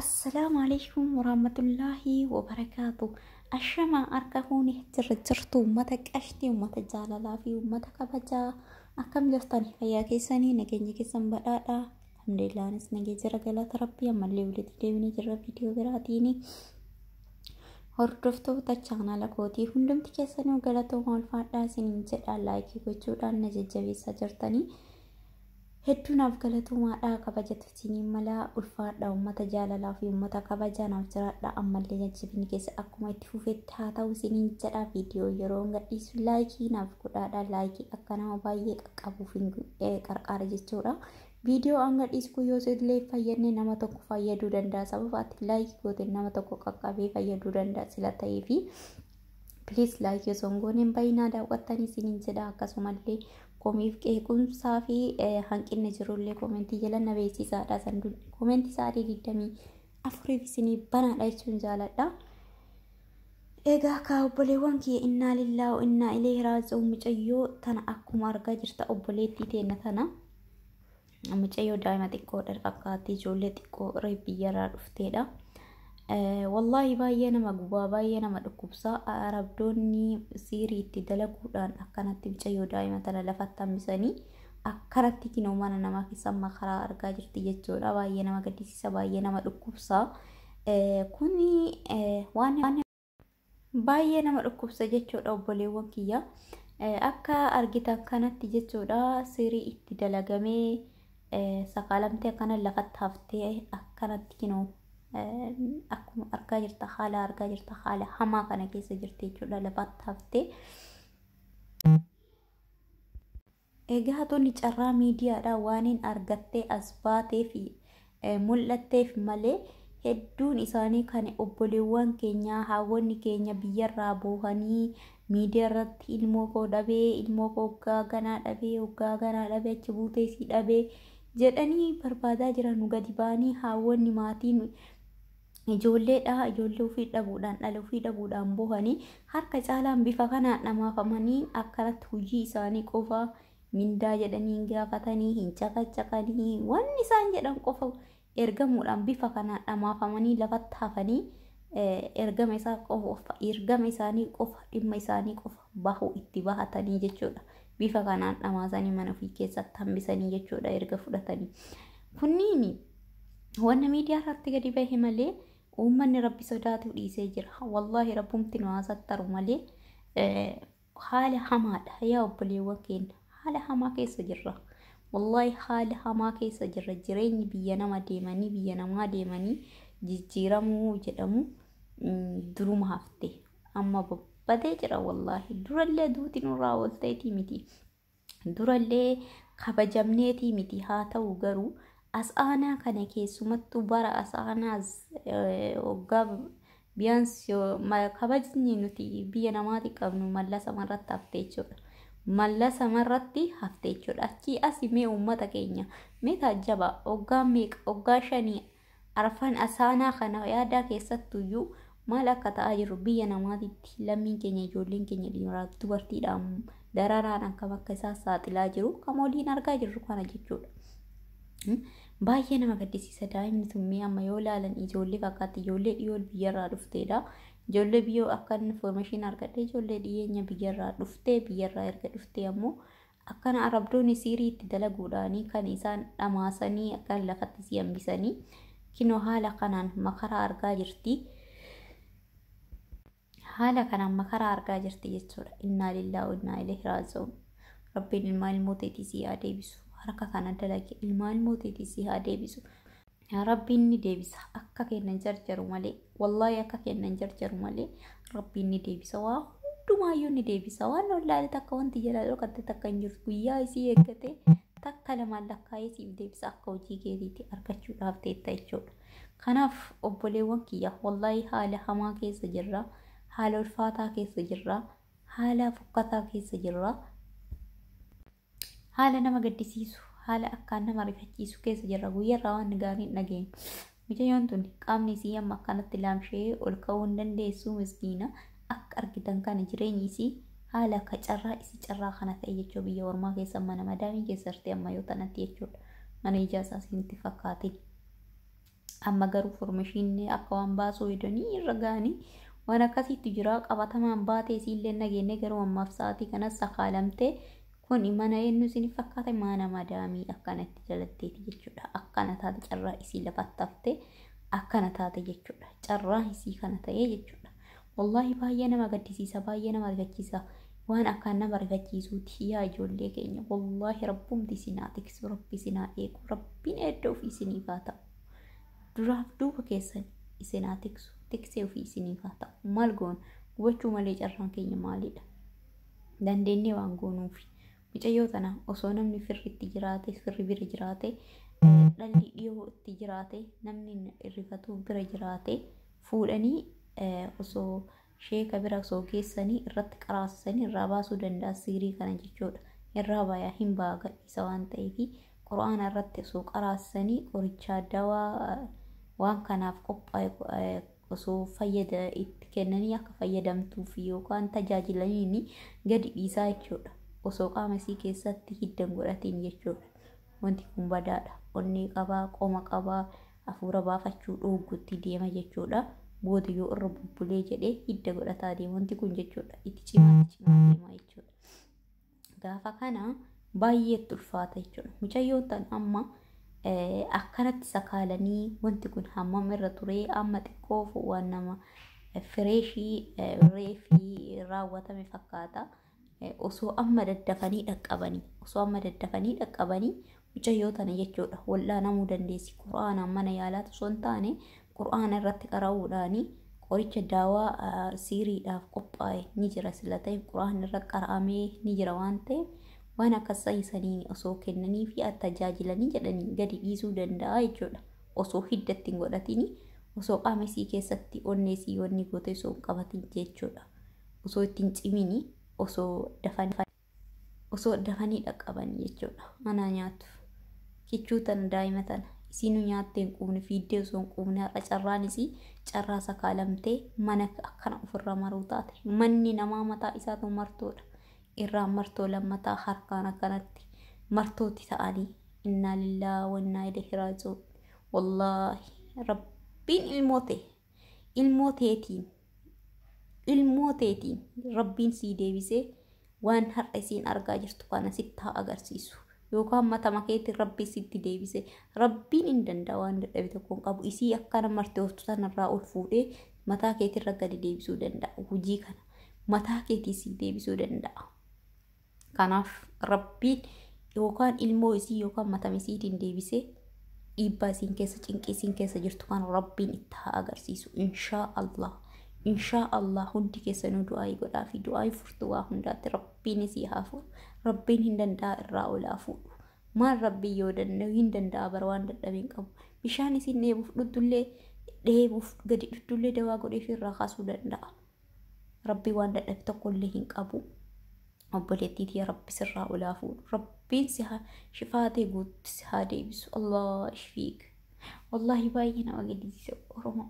Assalaamu alaikum warahmatullaahi wabarakaatu. Ashamaa harka fuuni jirra jirtu uummata qashtii, uummata jaalalaa fi uummata kabajaa akkam jirtan fayyaa keessanii nageenya keessan badhaadha. Alhamdulillah anis nagee jira galata rabbii ammallee walitti deebinee jirra viidiyoo biraatiin. Hordoftoota chaanaala kootii hundumti keessanuu galatooma ulfaadhaa isiniin jedha laayikii gochuudhaan na jajjabeessaa jirtanii. Hedduu naaf galatoomaa dhaa kabajatu isiniin malaa ulfaadha ummata jaalalaa fi ummata kabajaa naaf jiraadha ammallee jajjabinni keessa akkuma itti fufetti haa ta'u isiniin jedha viidiyoo yeroo hin gadhiisu laayikii naaf godhaadha laayikii akka nama baay'ee qaqqabuuf hin qarqaara jechuudha viidiyoo an gadhiisu kun yoo illee fayyadne nama tokko fayyaduu danda'a sababa ati laayikii gooteen nama tokko qaqqabee fayyaduu danda'a sila ta'ee fi Please like osoo hin goone hin bahinaa daawwattan isiniin jedha akkasumallee komiif qeequmsaa fi hanqinni jirullee komentii jala na beeksisaadha sanduun komentii sa'aatii digdamii afuriif isinii banaadha jechuun jaaladha. Egaa kaa obboleewwan kee innaa lillaa innaa ilee raaji'uun mucayyoo tana akkuma argaa jirta obboleettii teenna tana. Mucayyoo daa'ima xiqqoodha fakkaatti ijoollee xiqqoo reef biyyarraa dhufteedha. Wallaahi baay'ee nama gubaa baay'ee nama dhukkubsa arabdoonni siirii itti dalaguudhaan akkanatti mucayyoo daa'ima tana lafatti hambisanii akkanatti kinoo mana namaa keessa amma karaa argaa jirti jechuudha baay'ee nama gaddisiisa baay'ee nama dhukkubsa kuni waan Baay'ee nama dhukkubsa jechuudha obboleewwan kiyya. Akka argitan kanatti jechuudha sirii itti dalagamee sakaalamtee akkana lafatti haftee akkanatti kinoo akkuma argaa jirta haala argaa jirta haala hamaa kana keessa jirti jechuudha lafatti haftee. Egaa tuni carraa miidiyaadhaa waaniin argattee as baateefi mul'atteef malee hedduun isaanii kan obboleewwan keenyaa haawwonni keenya biyyarraa boohanii miidiyaarratti ilmoo koo dhabee ilmoo koo hoggaa ganaa dhabee hoggaa ganaa dhabee achi buutee sii dhabee jedhanii barbaadaa jiran nu gadi ba'anii haawwonni maatiin ijoollee dhaa ijoollee ofii dhabuudhaan dhala ofii dhabuudhaan bohanii harka caalaan bifa kanaan dhamaafamanii akkanatti hojii isaanii qofa mindaa jedhanii hin gaafatanii hin caqacaqanii wanni isaan jedhan qofa ergamuudhaan bifa kanaan dhamaafamanii lafatti hafanii ergama isaa qofa ergama isaanii qofa dhimma isaanii qofa bahu itti bahatanii jechuudha. Bifa kanaan dhamaasanii mana ofii keessatti hambisanii jechuudha erga fudhatanii. Kunniin wanna miidiyaa irratti gadi bahe malee uummanni rabbi sodaatuu dhiisee jira. Wallaahi rabbumti nu haasattaru malee haala hamaadha yaa obboleewwan keenya haala hamaa keessa jirra. Wallaahi haala hamaa keessa jirra jireenyi biyya nama deemanii biyya namaa deemanii jijjiiramuu jedhamu duruma hafte amma babbadee jira wallaahi durallee duuti nurraa oolteetii miti durallee kabajamneetii miti haa ta'u garuu as aanaa kana keessumattuu bara as aanaas waggaa biyyaans kabajni nuti biyya namaati qabnu mallasa marratti hafte jechuudha. Mallasa marratti hafte jechuudha. Achii asi mee uummata keenya mee taajjaba waggaa meeqa waggaa shanii Arfan asaanaa kana yaadaa keessattuyyuu maal akka ta'aa jiru biyya namaatitti lammiin keenya ijoolleen keenya dhiiraaf dubartiidhaan dararaan akkam akka isaan saaxilaa jiru kan waliin argaa jirru kana jechuudha. Baay'ee nama gaddisiisa daa'imni sun mee amma yoo ilaalan ijoollee fakkaatti ijoollee dhiyoo biyyarraa dhufteedha. Ijoollee biyyoo akka inni information argadhe ijoollee dhiyeenya biyyarraa dhuftee biyyarraa erga dhuftee ammoo Akkana Arabdoonni sihrii itti dalaguudhaanii kan isaan dhamaasanii akkaan lafatti si hambisanii kinoo haala kanaan makaraa argaa jirti. Haala kanaan makaraa argaa jirti jechuudha. Innaa lillaahu innaa ilaihi raaji'uun. Rabbiin ilmaa ilmoo teetii si haa deebisu. Harka kana dalage ilmaa ilmoo teetii si haa deebisu. Rabbiin ni deebisa akka kenna hin jarjaru malee wallaahi akka kenna hin jarjaru malee rabbiin ni deebisa waa hundumaayyuu ni deebisa waan wallaahi takka wanti jalaa dhokate takka hin jirtu guyyaa isii eeggate takka lamaan lakkaa'ee siif deebisa akka hojii keetiitti argachuudhaaf teetta jechuudha. Kanaaf obboleewwan kiyya wallaahi haala hamaa keessa jirra haala ulfaataa keessa jirra haala fokkataa keessa jirra. Haala nama gaddisiisu, haala akkaan nama rifachiisu keessa jirra. Guyyarraa waan gaarii hin dhageenyu. Mucayyoon tuni qaamni isii amma akkanatti laamsha'ee ol ka'uu hin dandeessu miskiina. Akka argitan kana jireenyi isii haala akka carraa isii carraa kana ta'e jechuu biyya ormaa keessa mana madaamii keessa jirti amma yoo tanatti jechuudha. Mana ijaa isaa isinitti fakkaatin. Amma garuu formashiinni akka waan baasuu hedanii irra ga'anii waan akkasiitti jira qabatamaan baatee isiillee nageenne garuu ammaaf sa'aatii kanas sakaalamtee kun mana eenyu isin fakkaate mana madaamii akkana itti jalatteeti jechuudha akkana taate carraa isii lafattaftee akkana taate jechuudha carraa isii kana ta'ee jechuudha. Wallaahi baay'ee nama gaddisiisa baay'ee nama rifachiisa waan akkaan nama rifachiisuuti yaa ijoollee keenya wallaahi rabbumti isin haa tiksu rabbi isin haa eegu rabbiin edda ofii isiniif haa ta'u duraaf duuba keessan isin haa tiksu tiksee ofii isiniif haa ta'u maal goon gubachuu malee carraan keenya maalidha dandeennee waan goonuufi mucayyoo tana osoo namni firri itti jiraate firri bira jiraate dhalli dhiyoo itti jiraate namni irrifatuu bira jiraate fuudhanii osoo sheeka bira osoo geessanii irratti qaraasisanii irraa baasuu danda'a siirii kana jechuudha. Irraa baayaa hin ba'a gadhiisa waan ta'eef quraana irratti osoo qaraasisanii qorichaa dawaa waan kanaaf qophaa'e osoo fayyada itti kennanii akka fayyadamtuuf yookaan tajaajilaniin gadi dhiisaa jechuudha. Osoo qaama isii keessatti hiddan godhatiin jechuudha. Wanti kun badaadha. Onnee qabaa, qoma qabaa, Afuura baafachuu dhooggutti deema jechuudha. Booda yoo irra bubbulee jedhe hidda godhataa deema. Wanti kun jechuudha itti cimaa itti cimaa deema jechuudha. Gaafa kana baay'ee itti ulfaata jechuudha. Mucayyoon tan amma eh, akkanatti sakaalanii wanti kun hammam irra turee amma xiqqoof waan nama eh, fireeshii eh, reefii raawwatame fakkaata. osoo amma daddafanii dhaqqabanii osoo amma daddafanii dhaqqabanii mucayyoo tana jechuudha wal'aanamuu dandeessi qura'aanaan mana yaalaatu osoo hin taane qura'aana irratti qara'uudhaanii qoricha daawaa siiriidhaaf qophaa'e ni jira sila ta'e qura'aan irra qara'amee ni jira waan ta'e waan akka saayisanii osoo kennanii fi tajaajilanii jedhanii gadi dhiisuu danda'a jechuudha osoo hidda ittiin godhatini osoo qaama isii keessatti onnee isii wanni gootee osoo hin qabatin jechuudha. osoo itti hin cimini osoo dafan osoo dafanii dhaqqaban jechuudha anaa nyaatu kichuu tana daa'ima tana isiinu nyaattee hin quufne fiiddee osoo hin quufne har'a carraan isii carraa sakaalamtee mana akkana ofirra maruu taate manni namaa mataa isaatu martoodha irraa martoo lammataa harkaan akkanatti martooti ta'anii innaa lillaa wannaa ilaihi raaji'uun wallaahi rabbiin ilmoote ilmoo teetiin ilmoo teetiin rabbiin sii deebisee waan har'a isiin argaa jirtu kana sitti haa agarsiisu yookaan matama keetiin rabbiin sitti deebisee rabbiin hin danda'a waan dadhabe tokko hin qabu isii akkana marti oftu sanarraa ol fuudhee mataa keetirra gadi deebisuu danda'a hojii kana mataa keetii sii deebisuu danda'a. Kanaaf Rabbiin yookaan ilmoo isii yookaan matama isiitiin deebisee dhiibbaa isiin keessa cinqii isiin keessa jirtu kan Rabbiin itti haa agarsiisu. Inshaa Allah. Inshaa Allah hundi keessanuu du'aayii godhaa fi du'aayii furtuu waa hundaatti Rabbiin isii haa fuudhu. Rabbiin hin danda'a irraa olaa fuudhu. Maal Rabbiin yoo danda'u hin danda'a bara waan dadhabee hin qabu. Bishaan isiin dheebuuf dhuddullee dheebuuf gadi dhuddullee dawaa godhee fi irraa kaasuu danda'a. Rabbi waan dadhabe tokko illee hin qabu. Obboleettii tiyya Rabbi sirraa olaa fuudhu. Rabbiin si haa shifaatee guutti si haa deebisu. Allah ishfiik. Wallaahi baay'ee nama gaddisiisa Oromoo.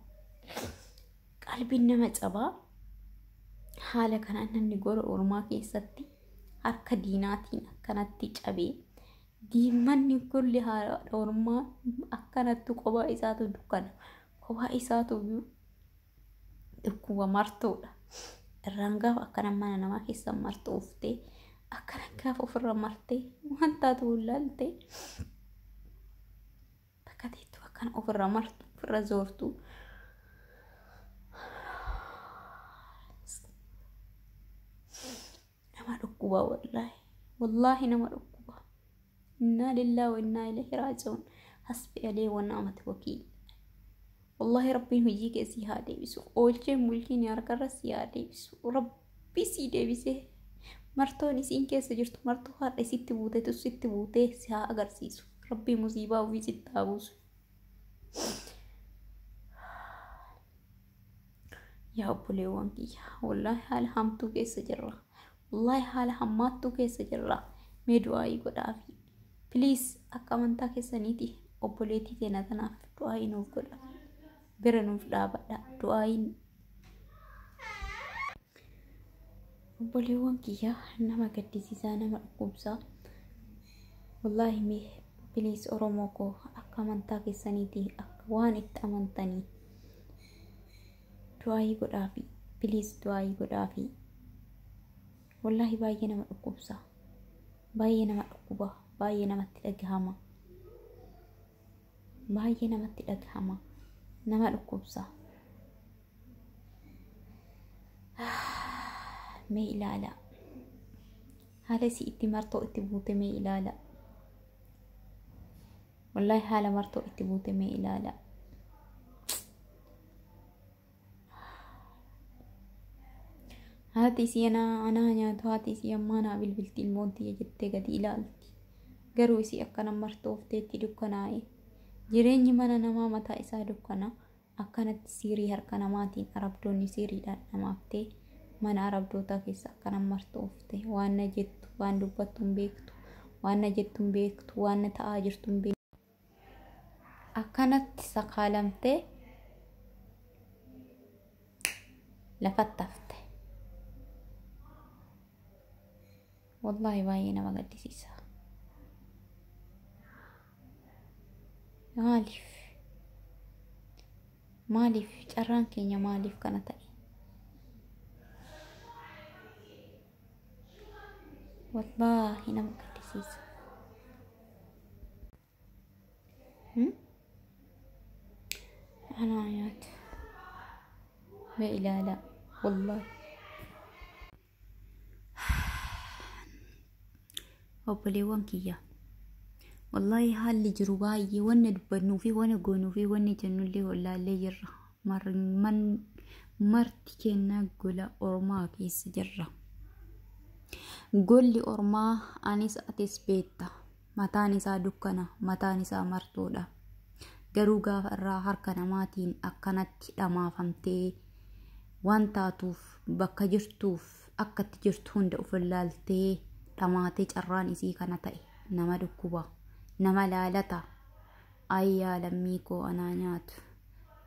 Qalbiin nama cabaa. Haala kanaan namni gola ormaa keessatti harka diinaatiin akkanatti cabee diimmanni golli haadha ormaa akkanatti kophaa isaatu dukkana. Kophaa isaatu Dhukkuba martuudha. Irraan gaafa akkana mana namaa keessa martu uftee akkana gaafa ofirra martee waan taatu laaltee bakka teettu akkana ofirra martu ofirra zoortu. nama dhukkuba wallaahi wallaahi nama dhukkuba innaa lillaa wa innaa ilaihi raaji'uun hasbi alee wa na'amati wakiil wallaahi rabbiin hojii kee sii haa deebisu oolcheen bulchiin harkarra sii haa deebisu rabbii sii deebisee martoon isiin keessa jirtu martuu har'a isitti buutetu sitti buutee si haa agarsiisu rabbii musiibaa ofii sitti haa buusu Yaa obboleewwan kiyya wallaahi haala hamtuu keessa jirra. Wallaahi haala hammaattuu keessa jirra. Mee du'aa'ii godhaafi. Please akka amantaa keessaniiti obboleettii teena tanaaf du'aa'ii nuuf godha. Bira nuuf dhaabadha. Du'aa'iin Obboleewwan kiyya nama gaddisiisaa nama dhukkubsaa wallaahi mee biliis oromoo koo akka amantaa keessaniiti akka waan itti amantanii du'aayii godhaafi biliis du'aayii godhaafi wallaahi baay'ee nama dhukkubsaa baay'ee nama dhukkuba baay'ee namatti dhagahama baay'ee namatti dhagahama nama dhukkubsaa mee ilaala haala isii itti martoo itti buute mee ilaala wallahi haala martoo itti buute mee ilaala haati isii anaa anaa nyaatu haati isii ammaa naa bilbilti ilmoon tiyya jettee gadi ilaalti garuu isii akkana martoofteetti dukkanaa'e jireenyi mana namaa mataa isaa dukkana Akkanatti sihrii harka namaatiin Arabdoonni sihriidhaan dhamaftee mana Arabdootaa keessa akka nan martu oofte. Waan na jettu, waan dubbattu hin beektu. Waan na jettu hin beektu, waan na ta'aa jirtu hin beektu. Akkanatti sakaalamtee lafatti hafte. Wallaahi baay'ee nama gaddisiisa. Maaliif? Maaliif carraan keenya maaliif kana ta'e? Wallaahi nama gaddisiisa. Hmm? Anaa nyaata. Mee ilaalaa. Wallaahi. obboleewwan kiyya wallaahi haalli jiru baay'ee wanna dubbannuu fi wanna goonuu fi wanni jennullee wallaallee jirra marman marti kennaa gola ormaa keessa jirra golli ormaa anis atis beetta Mataan isaa dukkana, mataan isaa martoodha. Garuu gaafa irraa harka namaatiin akkanatti dhamaafamtee waan taatuuf bakka jirtuuf akka itti jirtu hunda of ilaaltee dhamaatee carraan isii kana ta'e nama dhukkuba nama laalata ayyaa lammii koo anaa nyaatu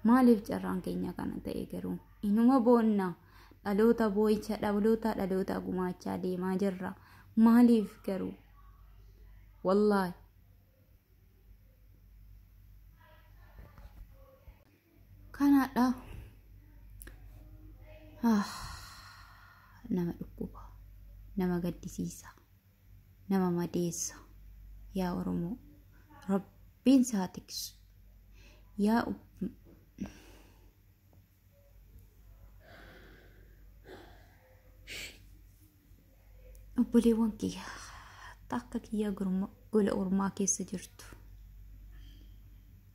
maaliif carraan keenya kana ta'e garuu inuma boonna dhaloota boo'icha dhaloota dhaloota gumaachaa deemaa jirra maaliif garuu wallaahi kanaadha Ah, nama dhukkuba nama gaddisiisa nama madeessa yaa oromoo rabbiin saa tiksu yaa obboleewwan kiyya takka kiyya gurma- gola ormaa keessa jirtu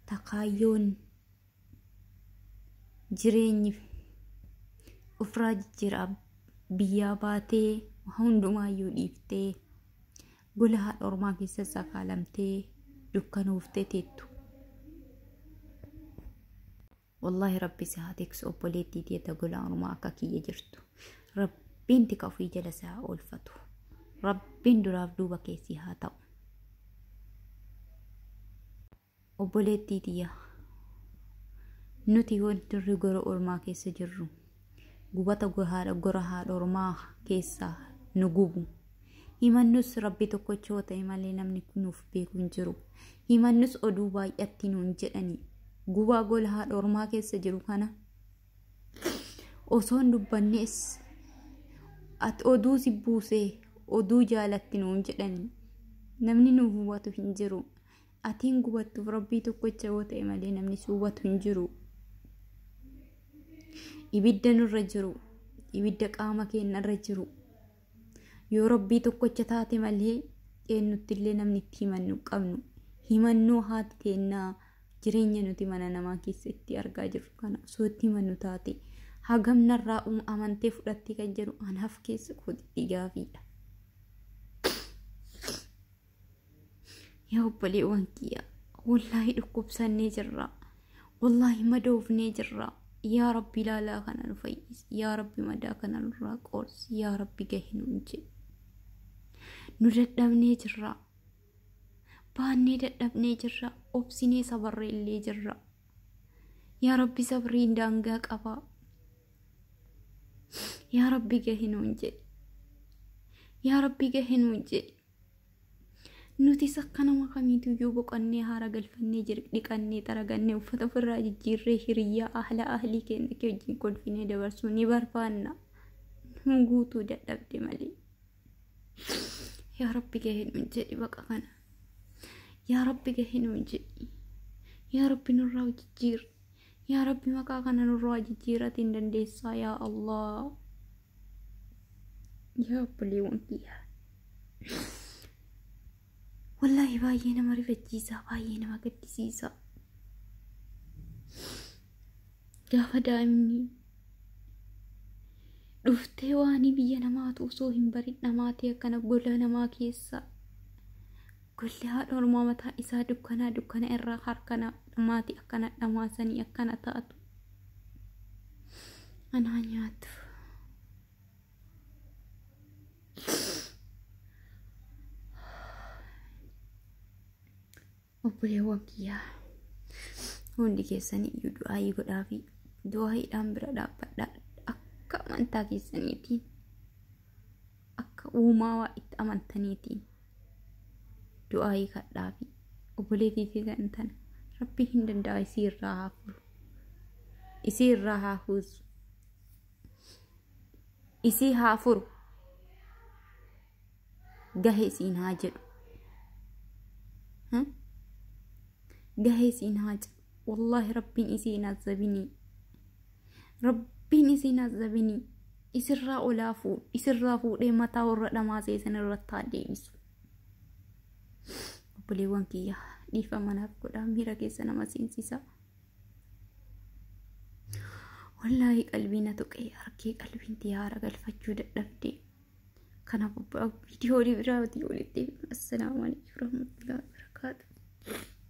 takaayyoon jireenyi ofirraa jijjiiraa biyyaa baatee hundumaayyuu dhiiftee gola haadha ormaa keessa sakaalamtee dukkanooftee teettu Wallahi rabbi si haa tiksu obboleettii tiyya ta gola ormaa akka kiyya jirtu. Rabbiin tika ofii jala si haa oolfatu. Rabbiin duraaf duuba kee si haa ta'u. Obboleettii tiyya nuti wanti gola ormaa keessa jirru gubata gohaadha gora haadha ormaa keessaa nu gubu himannus rabbi tokkocha yoo ta'e malee namni nuuf beeku hin jiru himannus oduu baay'atti nuun jedhani gubaa gola haadha ormaa keessa jiru kana osoon dubbannees ati oduu si buusee oduu jaalatti nuun jedhani namni nuuf hubatu hin jiru Ati hin gubattuuf rabbii tokkicha yoo ta'e malee namni si hubatu hin jiru. Ibidda nurra jiru, ibidda qaama keenyarra jiru. Yoo rabbii tokkicha taate malee eenyutti illee namni itti himannu hin qabnu. Himannoo haati teennaa jireenya nuti mana namaa keessa itti argaa jirru kana osoo itti himannu taate hagam narraa um amantee fudhattee kan jedhu anaaf keessa kootitti gaafiidha. yaa obboleewwan kiyya wallaahi dhukkubsannee jirra wallaahi madoofnee jirra yaa rabbi ilaalaa kana nu fayyisi yaa rabbi madaa kana nurraa qoorsi yaa rabbi gahe nuun jedhe nu dadhabnee jirra baannee dadhabnee jirra obsinee sabarree illee jirra yaa rabbi sabriin daangaa qaba yaa rabbi gahe nuun jedhe yaa rabbi gahe nuun jedhe Nutis akka nama kamiituyyuu boqannee haara galfannee jir- dhiqannee xaragannee uffata ofirraa jijjiirree hiriyyaa ahla ahlii keenya kee wajjin kolfinee dabarsuu ni barbaanna. Nu guutuu dadhabde malee. Yaa Rabbi gahee nuun jedhi baqa kana. Yaa Rabbi gahee nuun jedhi. Yaa Rabbi nurraa jijjiirri. Yaa Rabbi maqaa kana nurraa jijjiiratiin dandeessaa yaa Allah. yaa obboleewwan kiyyaa wallaahi baay'ee nama rifachiisaa baay'ee nama gaddisiisaa gaafa daa'imni dhuftee waanii biyya namaatu osoo hin barin dhamaatee akkana gola namaa keessaa golli haadha ormaa mataa isaa dukkanaa dukkana irraa harkana maatii akkana dhamaasanii akkana taatu Anaa nyaatu. Obboleewwan kiyyaa hundi keessanii iyyuu du'aayii godhaa fi du'aayiidhaan bira dhaabbadhaa akka amantaa keessaniitiin akka uumaawaa itti amantaniitiin du'aayii kadhaa fi obboleetii fi kan tana rabbii hin danda'a isii irraa haa furu isii irraa haa huusu isii haa furu gahe isiin haa jedhu gahe isiin haa jedhu Wallaahi rabbiin isii hin azzabinii. Rabbiin isii hin azzabinii. Isirraa olaa fuudh isirraa fuudhee mataa warra dhamaasee isinirratti haa deebisu. Obboleewwan kiyya dhiifama naaf godhaa miira keessa nama seensisaa. Wallaahi qalbii na tuqee harkee qalbiin tiyaara galfachuu dadhabdee. Kanaaf viidiyoo biraa walitti assalaamu alaikum warahmatullahi wabarakatuh.